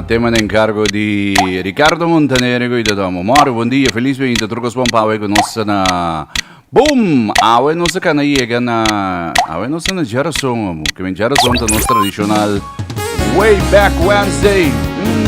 Tema na encargo di Ricardo Montanergo y ta tomo. More, buen día, feliz ben inta trucos pon pawe con nos na Boom! Awe nos kan na yega na awe nos na Jarason amu. Que men Jarason ta nos tradicional Way Back Wednesday. Mm.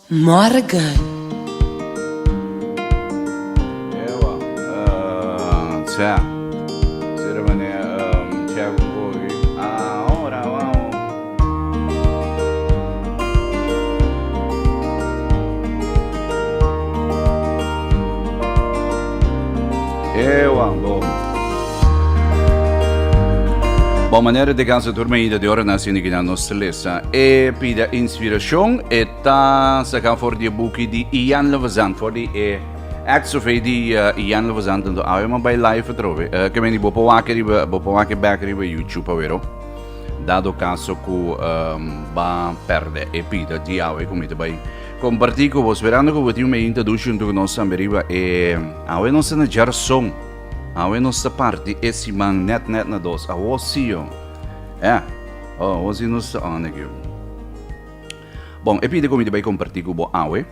Morgan. Ewa, uh, sea. Sea de manera, um, chèk un kogi. Ah, ora, wou. Ewa, bo. Bon manera de cansa tur medida de ora na sini gina nos lesa. E pida inspiracion e ta saca for di e buki di Ian Levazan, for di e Acts of AD uh, Ian Levazan tanto awe ma by live atrove. Uh, que meni bopo wake riba, bopo wake back riba YouTube awero. Dado caso cu um, ba perde e pida di awe cu mita by comparti cu bo sperando cu bo tin un medinta dushi junto cu nos tambe riba e awe nos na jar son. Awe nos ta parti e siman nèt nèt na dos. Awo si yo. E, o, awo si nos ta ònèk yo. Bon, e pide ku mi ta bai kompartí ku bo awe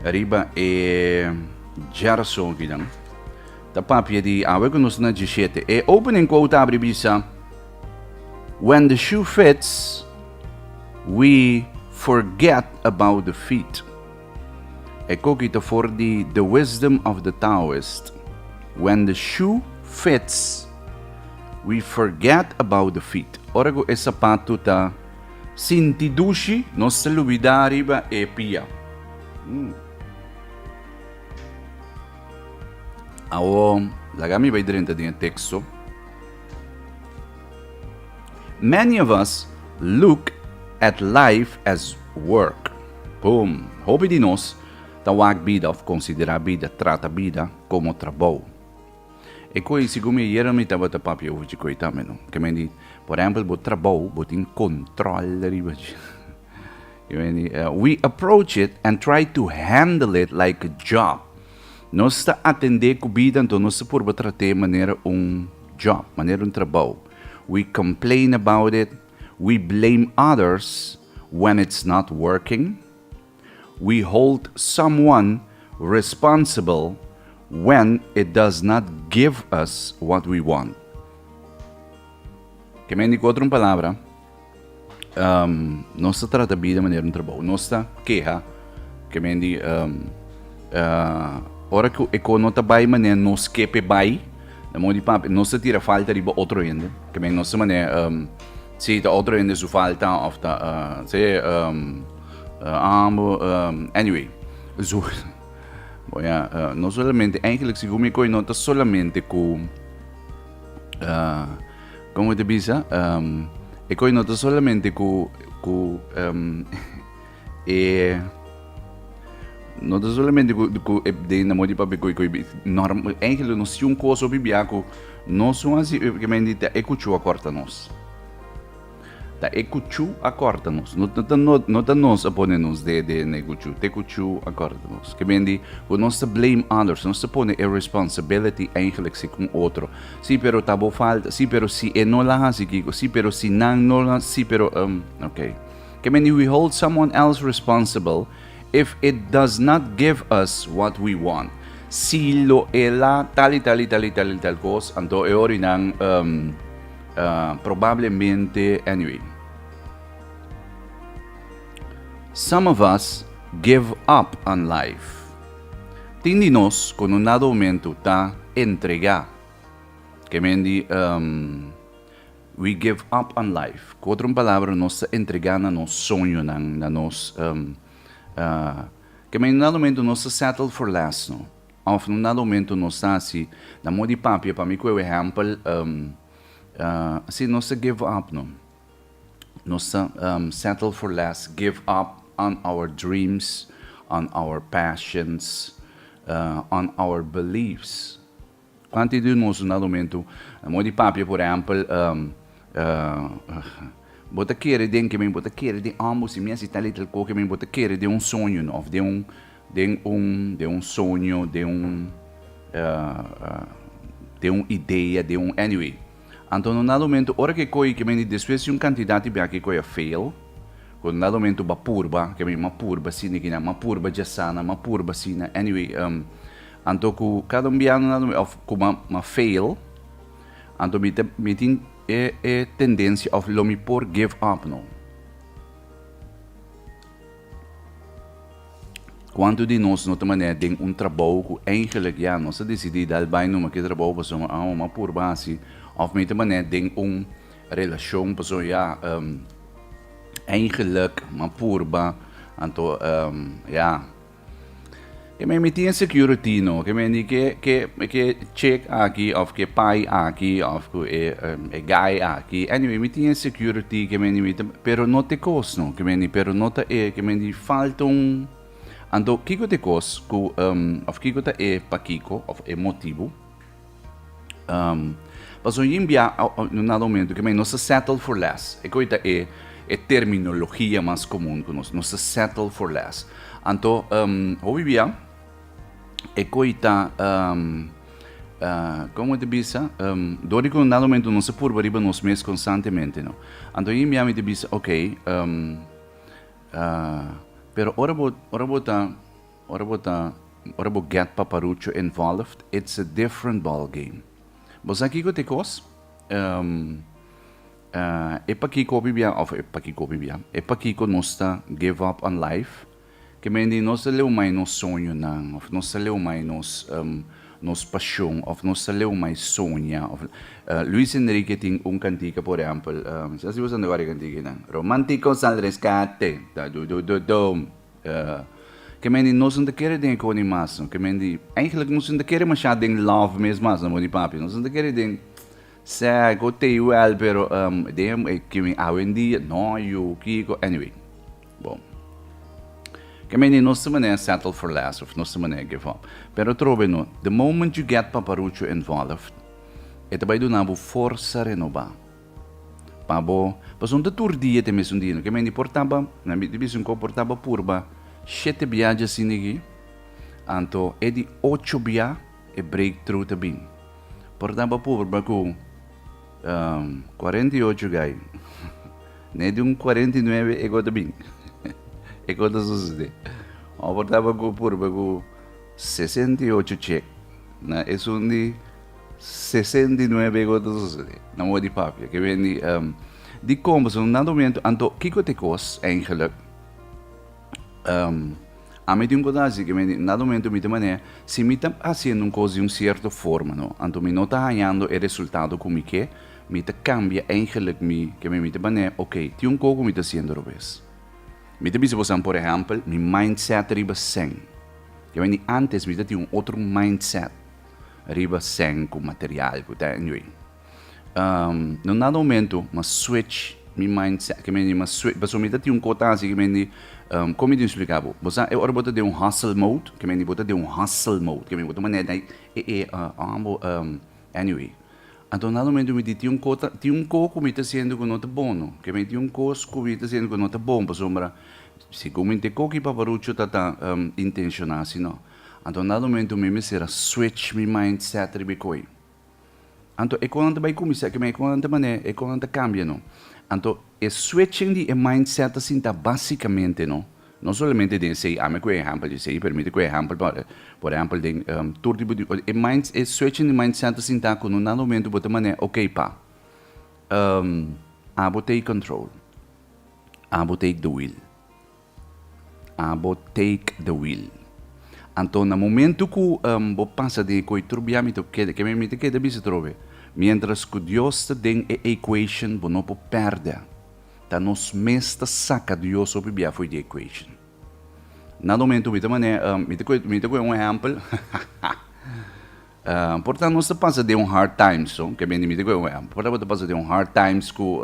riba e Jerso akinan ta papia di awe ku nos na djishete. E opening quote ta abri bisa, When the shoe fits, we forget about the feet. E koki ta for di The Wisdom of the Taoist, When the shoe fits, we forget about the feet. Ora ku e sapatu ta sinti dushi, nos ta lubidá riba e pia. Awo, laga mi bai drenta den e teksto. Many of us look at life as work. Cu hopi di nos ta wak bida of considera bida, trata bida como trabou. E coi, segun mi ayer mi tabata papia over djikoi tambe no. Ke men di, por ehempel bo trabou, bo tin control riba dje. Ke men di, we approach it and try to handle it like a job. Nos ta atende cu bida, enton nos ta purba trat'e manera un job, manera un trabou. We complain about it. We blame others when it's not working, we hold someone responsible when it does not give us what we want. Ke mendi ku otro un palabra, nos ta trata bida manera un trabou, nos ta keha Ke men di um, uh, ora ku eko no ta bai mané nos ke pe bai, na modi papi nos ta tira falta riba otro hende. Ke men nos mané um, si ta otro hende su falta of ta uh, si um, uh, ambo um, anyway. Zo Bon ya, uh, no solamente eigenlijk si gumi koi no ta solamente ku uh, como te bisa um, e koi no ta solamente ku ku um, E no ta solamente cu, cu e den na modi papi cu, cu norm, eigenlijk no si un cosa o bibia cu nos un asi e que mendi ta e cuchu a corta nos. Ta e cuchu a corta nos. No ta, no, no ta nos a pone nos de, de ne cuchu. Te cuchu a corta nos. Que mendi cu nos ta blame others, nos ta pone e responsibility eigenlijk si con otro. Si pero ta bo falta, si pero si e no la hasi kico, si pero si nan no la, si pero, um, ok. Can many we hold someone else responsible if it does not give us what we want? Si lo e la tal y tal y tal y tal y tal cos, anto e ora y nan um, uh, probablemente, anyway. Some of us give up on life. Tin di nos con un nado momento ta entrega. Que men di um, We give up on life. Cu otro un palabra nos ta entrega na nos soñonan, na nos um, uh, ke men na momento nos ta settle for less no. Of no na momento nos ta asi, na mo di papia pa mi cu e wehempel, um, uh, si nos ta give up no. Nos ta um, settle for less, give up on our dreams, on our passions, uh, on our beliefs. Antes di nos na lumentu, moe di papia, por ehempel, Bo ta kere den ke mi? Bo ta kere den amo? Si mi a si talitel ko ke mi? Bo ta kere den un soño no? Of den un, den un, den un soño, den un, den un idea, den un, anyway. Anto no na lumentu, ora ke koi ke mi despues di un kantidat di bia ke koi a fail, ku no na lumentu bo a purba, ke mi ma purba asina, ke mi a purba djasana, ma purba asina, anyway. Anto ku kada un biaha nan mi òf ku ma fail, anto mi ta mi tin e e tendensia òf lo mi por give up no. Kuantu di nos no ta manera den un trabou ku eigelik ya nos a desidí dal bai numa ku e trabou pasobra mi awa mi a purba hasi òf mi ta manera den un relashon pasobra ya eigelik mi a purba anto ya. Ke me miti en security no, ke me di ke ke ke chick aki of ke pai aki of ku e um, e guy aki. Anyway, miti en security ke me di miti, pero no te kos no, ke me di pero no ta e ke me di falta un Anto kiko te kos ku um, of kiko ta e pakiko of e motibu? Um, pas un yin bia na momento que nos se settle for less. E coita e, e terminologia mas común con nos, nos se settle for less. Anto, um, hobi bia, e coita, um, uh, como te bisa, um, dori con na momento nos se purba riba nos mes constantemente, no? Anto yin bia mi te bisa, ok, um, uh, pero ora bo, ora bo ta, Ora bo ta ora bo get paparucho involved it's a different ball game. Bo sa kiko ta e kos? Ehm eh e pakiko bibia of e pakiko bibia e pakiko nos ta give up on life? Ke men di nos ta leu mai nos soñonan of nos ta leu mai nos ehm nos pashon of nos ta leu mai soña of Luis Enrique tin un kantika por ehempel ehm si asi bo sa nta gora e kantika ei nan Romantico sal rescate ta du du du dum. Ke men di nos no ta kere den e koni mas no. Ke men di, eigenlijk nos no ta kere masha den love mes mas no, amor di papi. Nos no ta kere den sèk o teiwèl, pero den e ke mi awendia, nòio, kiko, anyway. Bo, ke men di nos ta manera settle for less of nos ta manera give up. Pero atrobe no, the moment you get paparucho involved, e ta bai duna bo forsa renobá. Pa bo, pasobra ta tur dia te mesun dia, no ke mende portaba, na miti bisin ko portaba purba shete bia djasindi aki, anto e di ocho bia e breakthrough ta bin. Portaba purba ku cuarenta y ocho gai, ne di un cuarenta y nueve e ko ta bin, e ko ta sosode. O portaba ku purba ku sesenta y ocho chek, na esun di. Sesenta i nuebe go ta sosodé na oor di papia ke wen di ehm di komberson na domentu anto kiko te kos eingeluk ehm ami tin un kos hasi ke wen di na domentu mi ta man'e si mi ta hasiendo un kos di un sierto forma no anto mi no ta hañando e resultado ku mi ke mi ta kambia eingeluk mi ke wen mi ta man'e okay tin un kos ku mi ta hasiendo robes mi ta bisa bo san por ehèmpel mi mindset riba sèn ke wen di antes mi ta tin un otro mindset. riba sèn ku material ku ta anyway. Na un dado momentu m'a switch mi mindset, ke mende m'a switch, pasobra mi ta tin un kota aki ke mende, kon mi tin splika bo? Bo sa e ora bo ta den un hustle mode, ke mende bo ta den un hustle mode, ke mende bo ta manera dai e e on bo anyway. Anto un dado momentu mi tin tin un kota, tin un ko ku mi ta hasiendo ku no ta bono, ke mi tin un kos ku mi ta hasiendo ku no ta bon pasobra segun mi nt'e koki paparucho ta ta intenshona asina. Anto un dado momento mi mester a switch mi mindset riba e koe. Anto e konan ta bai kuminsá ke men e konan ta manera e konan ta kambia no. Anto e switching di e mindset ta sinta básikamente no, no solamente den esei, ami a kue ehèmpel di esei, permite kue ehèmpel pa por ehèmpel den tur tipo di e mind e switching di mindset ta sinta ku un dado momento bo ta manera ok pa abo take control, abo take the wheel. Abo take the wheel. Anto na momentu ku bo pasa den e koi trobia mi ta keda, keme mi ta keda bisa trobe, mientras ku Dios ta den e equation bo no por pèrdè. Ta nos mes ta saka Dios hopi bia fo'i di equation. Na momentu mi ta manera mi ta koe mi ta koe un ehèmpel Por ta nos ta pasa den un hard times, so, ke mende miti ku e wea. Por ta bo ta pasa den un hard times ku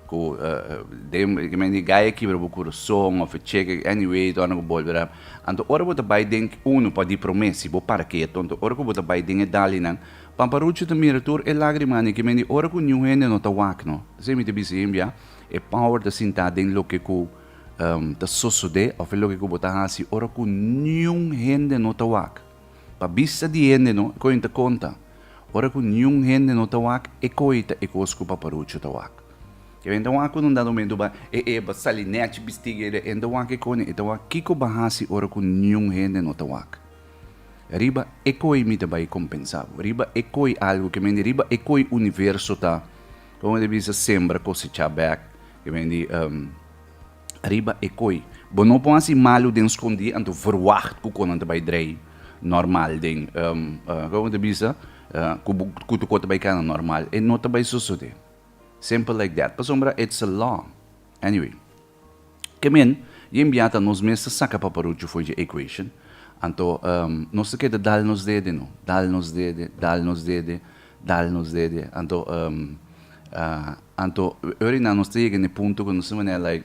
ku den ke mende gaya kibra bo kurason of e cheke, anyway torna ku bolbera. Anto ora bo ta bai den uno pa di promé si bo para ke ato anto ora ku bo ta bai den e dalinan Pamparuchu ta mira tur e lagrimanan ke mende ora ku niun hende no ta wak no. Esei mi ta bisa hembia e power ta sintá den loke ku ta sosodé of loke ku bo ta hasi ora ku niun hende no ta wak. Pa bista di hende no koin ta konta. Ora ku niun hende no ta wak, e koi ta e kos ku paparuchu ta wak. Ke hende wak ku nundato mentu ba e eba sali nèchi bistigi e de hende wak e koni, e ta wak kiko ba hasi ora ku niun hende no ta wak. Riba e koi mi ta bai kompensa bo. Riba e koi algu ke mende riba e koi universo ta, kon e ta bisa, sembra, kosechá bèk ke mende. riba e kooi. Bo no por hasi malu den skondí anto verwacht ku konan ta bai drei normal den kiko bo ta bisa ku bo ku tokot ta bai kana normal. E no ta bai sosodé. Simple like that. Pasobra it's a law. Anyway. Ke men yen bia ta nos mes ta saka paparuchu for dje equation. Anto nos ta keda dal nos dede no, dal nos dede, dal nos dede. Dal nos dede. Anto anto ori nan nos ta yega na e punto ku nos ta manera like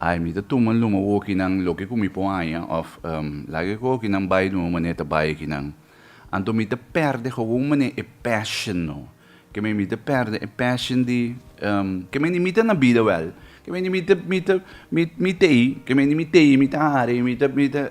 ai mi ta tuma luma ku okinan loke ku mi por haña òf laga ku okinan bai luma manera ta bai akinan. Anto mi ta pèrdè gawun manera e passion no. Keme mi ta pèrdè e passion di keme ni mi ta na bida wèl keme ni mi ta mi ta mi mi tei keme ni mi tei mi ta hari mi ta mi ta.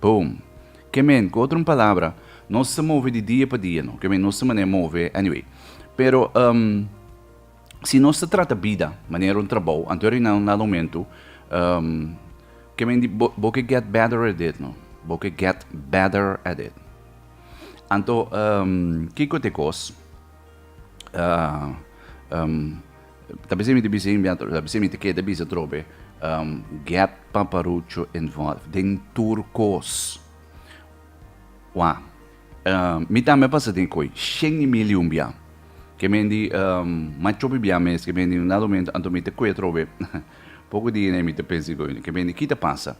Boom. Ke men, ku otro un palabra, nos ta move di dia pa dia, no? Ke men, nos ta manera move, anyway. Pero, um, si nos ta trata bida manera un trabou, anto e reinal na lomentu, um, ke men di, bo, bo ke get better at it, no? Bo ke get better at it. Anto, um, kiko t'e kos? Uh, um, Ta bisa mi ta bisa enbia atrobe, ta bisa mi ta keda bisa atrobe, um, get Paparucho involved den tur kos. Wak, um, mi tambe a pasa den koe, shen y mil y un bia. Ke men di, um, mai chop y bia mes, ke men di un dado momento, anto mi ta koe atrobe, poko di ene mi ta pensa koe, ke men di ki ta pasa?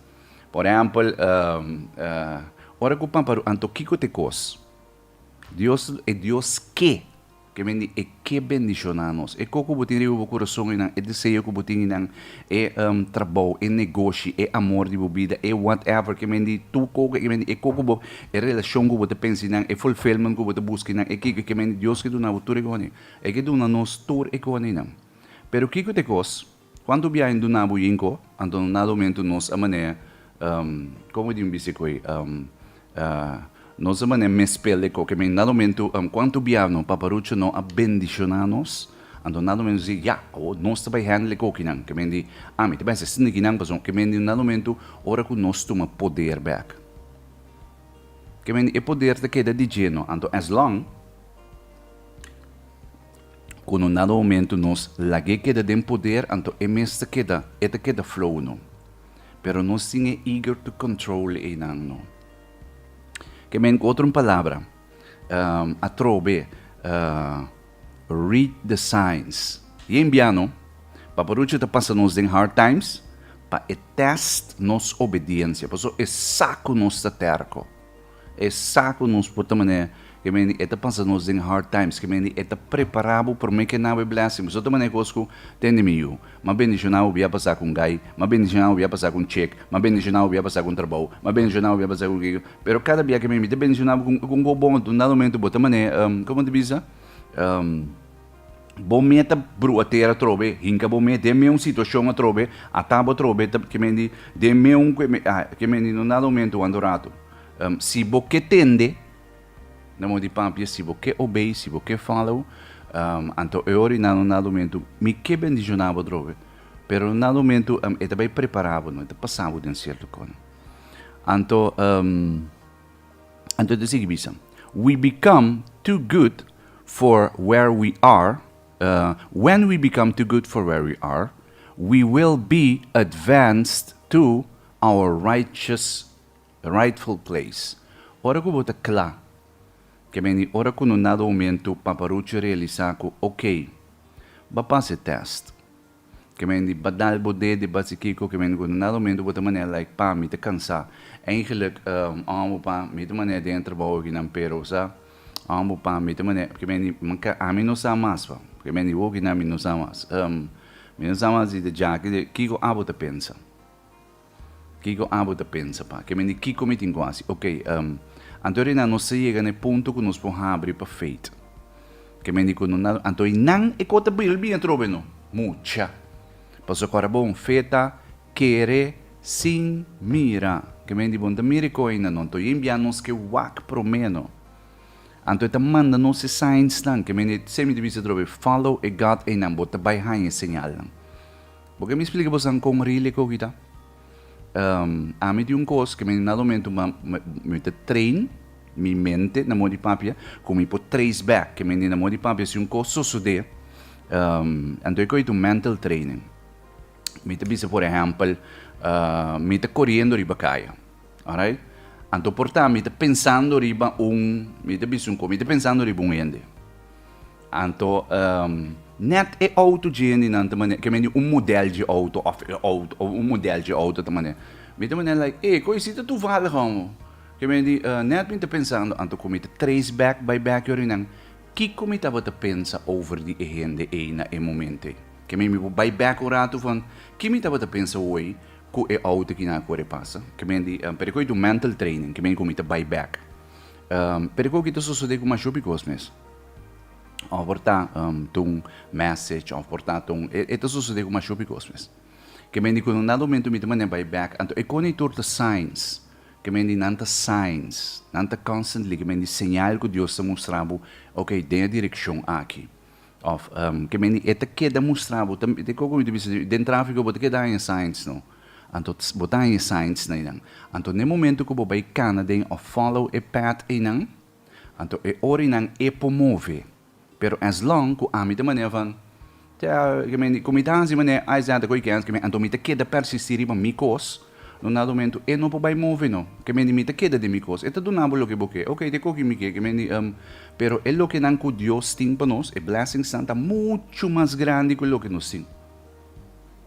Por ehempel, um, uh, ora ku Paparu-, anto kiko ta e kos? Dios, e Dios ke? Ke bendi e ke bendishoná nos. E koko bo tin riba bo kurason i nan e deseo ku bo tin i nan e trabou, e negoshi, e amor di bo bida, e whatever ke bendi tur koko ke bendi e koko bo, e relashon ku bo ta pensa i nan, e fulfillment ku bo ta buska i nan, e kiko ke bendi Dios ke duna bo tur e kosnan. E ke duna nos tur e kosnan. Pero kiko ta e kos? Cuanto biaha en duna bo yinco, anto no nada momento nos a manera, um, como e di un bici coe, um, uh, nos a manera mespel de coke, men nada momento, um, cuanto biaha no paparucho no a bendiciona nos, anto nada momento si, ya, awor nos ta bay handle cokinan, ke men di, ah, mi ta bay hasi snikinan pasobra, ke men di nada momento, ora cu nos tuma poder bek, ke men di e poder ta keda djé no, anto as long. cu no nada momento nos lag'é keda den poder anto e mes ta keda, e ta keda flow no. Pero nos tin e eager to control eynan no. Ke men cu otro palabra atrobe read the signs. Yen bia no, paparucho ta pasa nos den hard times pa e test nos obediencia, paso esacu nos ta terco. E sa cu nos por ta manera, ke manera e ta pasa nos den hard times, ke manera e ta prepara bo prome ke na bo e blessing. Pasobra ta manera cos cu ta hende mi yu, ma bendicionado bo bia pasa cu un gai, ma bendicionado bo bia pasa cu un check, ma bendicionado bo bia pasa cu un trabao, ma bendicionado bo bia pasa cu kiko. Pero cada bia ke manera mi ta bendicionado bo cu un go bon, un dado momento bo ta manera, como ta bisa? Bo mé ta bru ater atrobe, hinka bo mé den mé un situashon atrobe, ata bo atrobe ta, ke men di, den mé un kue, ke men di, no nada momentu wando ratu. Si bo ke tende, nan bo di papia, si bo ke obey, si bo ke follow, anto e ora i nan no nada momentu, mi ke bendishoná bo atrobe, pero no nada momentu e ta bai prepará bo, no, e ta pasá bo den sierto kos. Anto. Anto ita sigui bisa, We become too good for where we are, When we become too good for where we are, we will be advanced to our righteous, rightful place. Ora ku bo ta kla, ke meni ora ku no nada homentu, Papa Rucho realisá ku, Okey, b'a pas e tèst. Ke men di badal bo de de basi kiko ke men guna na rumento bo ta manera like pa mi ta kansa eigenlik homo pa mi ta manera den trabou aki nan pero sa homo pa mi ta manera ke men di ami no sa mas pa ke men di hogi nan mi no sa mas mi no sa mas di de jaki de kiko abo ta pensa. Kiko abo ta pensa pa ke men di kiko mi tin ku hasi? Oke, anto ri nan nos ta yega na e punto ku nos por habri pa feit. Ke men di ku no na anto i nan e kos ta bira bini atrobe no? Mucha! Paso kor a bon feta, kere, sin, mira. Ke men di bon ta mira e kos ei na no? Anto i a enbia nos ke wak prome no? Anto e ta manda nos e signs nan? Ke men di semi ta bisa atrobe, Follow e God einan, bo ta bai haña e señalnan. Bo ke mi splika bo san kon ri lek oki ta? Ami tin un kos ke mi na lomentu mi ta train mi mente na modi papia ku mi por trace back ke mi na modi papia si un kos sosode anto e koi ta un mental training. Mi ta bisa por ehèmpel mi ta koriendo riba kaya, alright, anto por ta mi ta pensando riba un, mi ta bisa un kos, mi ta pensando riba un hende. Anto net e auto djindinan ta manera, ke mende un model dje auto of e auto, of un model dje auto ta manera. Mi ta manera like, ey, koe si ta tuvallig homo. Ke mende, net mi ta pensando, anto ku mi ta trace back bai back yori nan, kiko mi tabata pensa over di e hende ey na e momento ey? Ke mi, mi por bai back un ratu van, ki mi tabata pensa hoy ku e auto kina a kore pasa? Ke mende, pero koe ta un mental training, ke mende ku mi ta bai back. Pero koe ku ta sosode ku Mashopi kos mes? Of por ta ta un message, of por ta ta un... E ta sosodé ku masho bikos mes. Ke men di ku nan dado momento mi ta manera bai bèk, anto e koni tur ta signs, ke men di nan ta signs, nan ta constantly, ke men di señal ku Dios ta mustra bo, okay, den e direkshon aki. Of, ke men di e ta keda mustra bo, ta mira kiko mi ta bisa, den trafiko bo ta keda haña signs no, anto bo ta haña signs na einan. Anto na e momento ku bo bai kana den of follow e path einan, Anto e ori nan e por move. Pero as long cu ami ta manera van, Tja, ke men di, cu mi ta hansi manera ai sa ta koikens ke men, anto mi ta keda persisti riba mi cos, no na momento e no por bai move no. Ke men di, mi ta keda den mi cos. E ta duna bo loke bo ke. Oké, te koki mi ke, ke men di, em. Pero e lokenan cu Dios tin pa nos, e blessingsnan ta mucho mas grandi cu loke nos tin.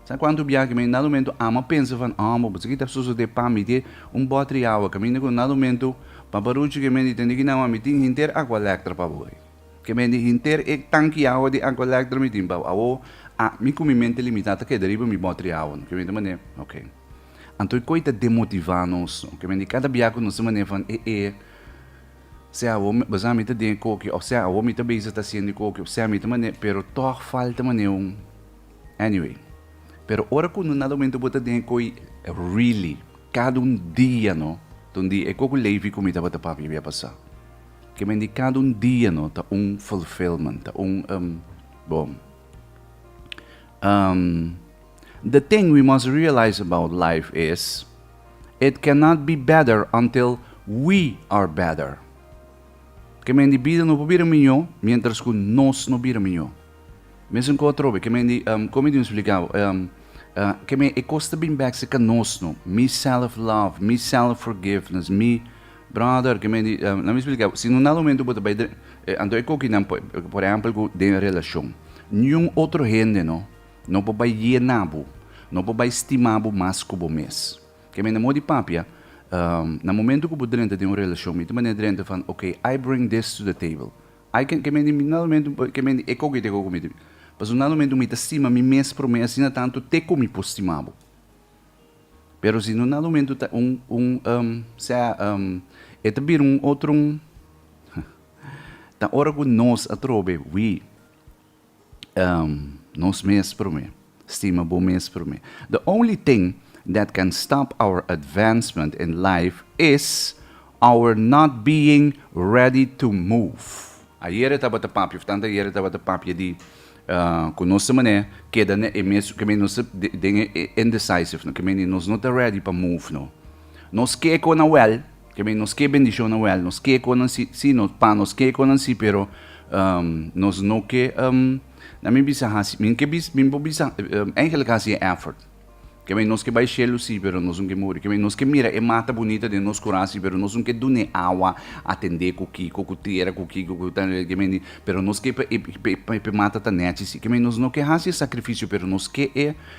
Sa cuanto bia ke mi na lumentu amo a pensa van omo bo sa ki ta sosode pa mi te un botri awa ke mi na ku na lumentu papa ruchi ke mi di tende ki na wan mi tin henter aqua lectra pa bo e ke mi di henter e tanki awa di aqua lectra mi tin pa bo awo a mi ku mi mente limita ta keda riba mi botri awa no ke mi ta mane ok anto e koi ta demotiva nos no ke mi di kada bia ku nos ta mane van e e Sea awor mi, besá mi ta den e koki, òf sea awor mi ta bezig ta siendo e koki, òf sea mi ta mané, pero tòg falta mané un. Anyway. Pero ora ku no na lomentu bo ta den e koi, really, kada un dia no ta un dia. E koko Levi ku mi tabata papia bia pasá. Ke men di kada un dia no ta un fulfillment, ta un, um, bo, um. The thing we must realize about life is, it cannot be better until we are better. Kemendi bida no por bira miñó miéntras ku nos no bira miñó. Mester nkoa atrobe, kemendi, um, komo i tin spliká, um, uh, keme e kos ta bin bèk si ka nos no. Mi self love, mi self forgiveness, mi, brother, kemendi, um, lami spliká bo, si no nan momentu bo ta bai dren, eh, anto e kokinan, por, por ehèmpel ku den relashon. Niun otro hende no. No por bai yé na bo. No por bai stima bo mas ku bo mes. Ke mende mor di papia, na momentu ku bo drenta den un relashon, mi ta manera drenta van, ok, I bring this to the table. I can, ke mende mi na momentu, ke mende e koki te ko ku mi. Pasobra na momentu mi ta stima mi mes promé, asina tantu te ku mi por stima bo. Pero si no na momentu ta un, un, sea, e ta bira un otro, ta ora ku nos atrobe, wi, nos mes promé. Stima bo mes promé. The only thing that can stop our advancement in life is our not being ready to move. Ayere tabata papia, of tanta ayere tabata papia di cu nos ta manera keda na e mes, keme nos ta den e indecisive no, keme nos no ta ready pa move no. Nos ke cu nawel. Ke men nos ke bendishonnan wèl, nos ke konan si, si, nos, pa nos ke konan si, pero um nos no ke um na mi bisa hasi, mi ke bis, mi por bisa um eigenlik hasi e èfòrt. Ke men nos ke bai shelu si, pero nos no ke muri, ke men nos ke mira e mata bunita den nos kura si, pero nos no ke dun'é awa, atendé ku ki, ku ku tera, ku ki, ku ku ta, ke men di, pero nos ke p'e, p'e, p'e mata ta nèchi si, ke men nos no ke hasi e sakrifisio, pero nos ke e.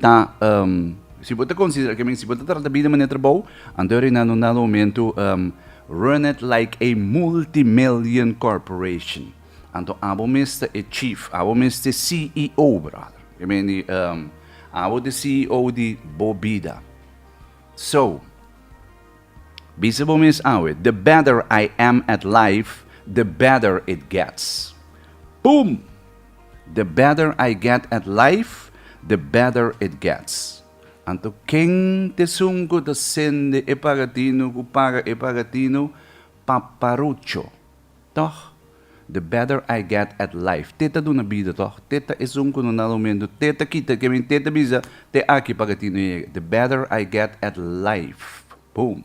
ta um, si bo ta considera, que si bo ta trata bida manera trabou, anto rina no na momento um, run it like a multimillion corporation. Anto abo miste e chief, abo miste CEO, brother. Que men di, um, abo de CEO di bo bida. So, bisa bo mis awe, the better I am at life, the better it gets. Boom! The better I get at life, the better it gets. Anto ken t'esun cu ta sende e pagatino cu paga e pagatino? Paparucho. Toch? The better I get at life. Te ta duna bida toch? Te ta esun cu no na rumendo? Te ta kita? Ke men te ta bisa? Te aki pagatino yega. The better I get at life. Boom!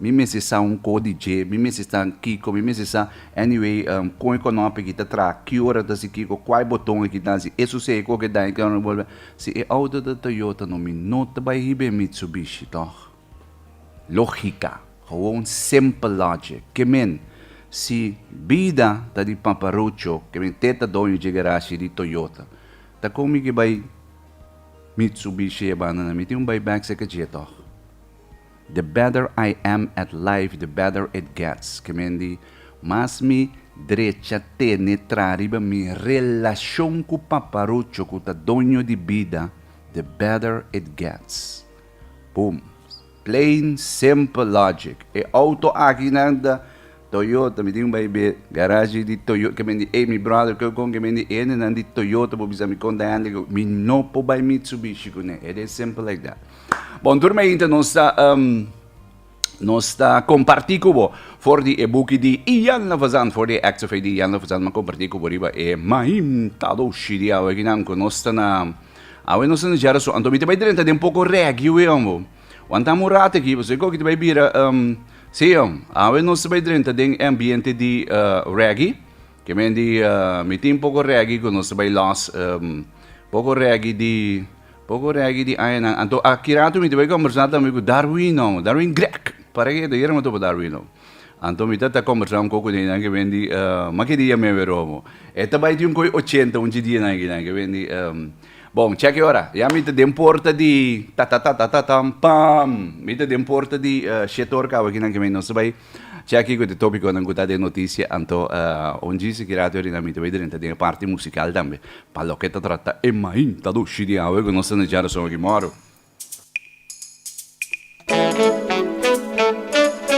Mi mester sa un ko di dje, mi mester sa kiko, mi mester sa, anyway, um, kon e konó p'e ki ta traha, ki ora ta hasi kiko, kua e boton e ki ta hasi, e susei, ku ke daño, ke ora, si e outo ta Toyota no mi no ta bai hiba e Mitsubishi, tòg? Lógika, gewoon simple logic, ke men, si bida ta di paparucho, ke men te ta doño dje garashi di Toyota, ta kon mi ke bai Mitsubishi e banda nan, mi tin un bai bèk seke dje, tòg? The better I am at life the better it gets, ke mendi, mas mi drecha tene traha riba mi relashon ku Paparucho ku ta doño di bida, the better it gets. Boom. Plain simple logic. E outo akinan ta Toyota mi tin un bai be garashi di toyota ke bendi ey mi brother ke kon ke bendi ende nan di toyota por bisa mi kon ta hende ku mi no por bai mitsubishi kuné it is simple like that bon tur mi ainta nos ta nos ta komparti ku bo for di e buki di Ian Lafazan for di e acts of faith di Ian Lafazan mi komparti ku bo riba e mahim tadoshi di awe kinan ku nos ta na awe nos ta na jara so anto mi ta bai drenta den poko regi wen bo. Wan ta murat aki, pasobra e kokiti bai bira um, si om, awe nos ta bai drenta den ambiente di uh, reggae, ke men di uh, mi tin poko reggae ku nos ta bai los, um, poko reggae di poko reggae di ayenan. Anto aki rato mi ta bai konversá tambe ku Darwin, no, Darwin Grek, para ke ta yera mo topa Darwin, no. Anto mi ta ta kombersá un koko den einan ke bendi mak'e dia mi a wèr omo. E ta bai di un koi ochenta un djidía na einan ke bendi. Bon, chèk e ora. Ya mi ta den porta di tatatatatatatam, pam! Mi ta den porta di shete or kaba kinan ke mi nos ta bai chèk kiko te tópikonan ku ta den notisia. Anto un dji sikirá te ora einan mi ta bai drenta den e parti musikal tambe pa loke ta trata e mainta dushi di awe ku nos ta na Jara Sògè Mòro.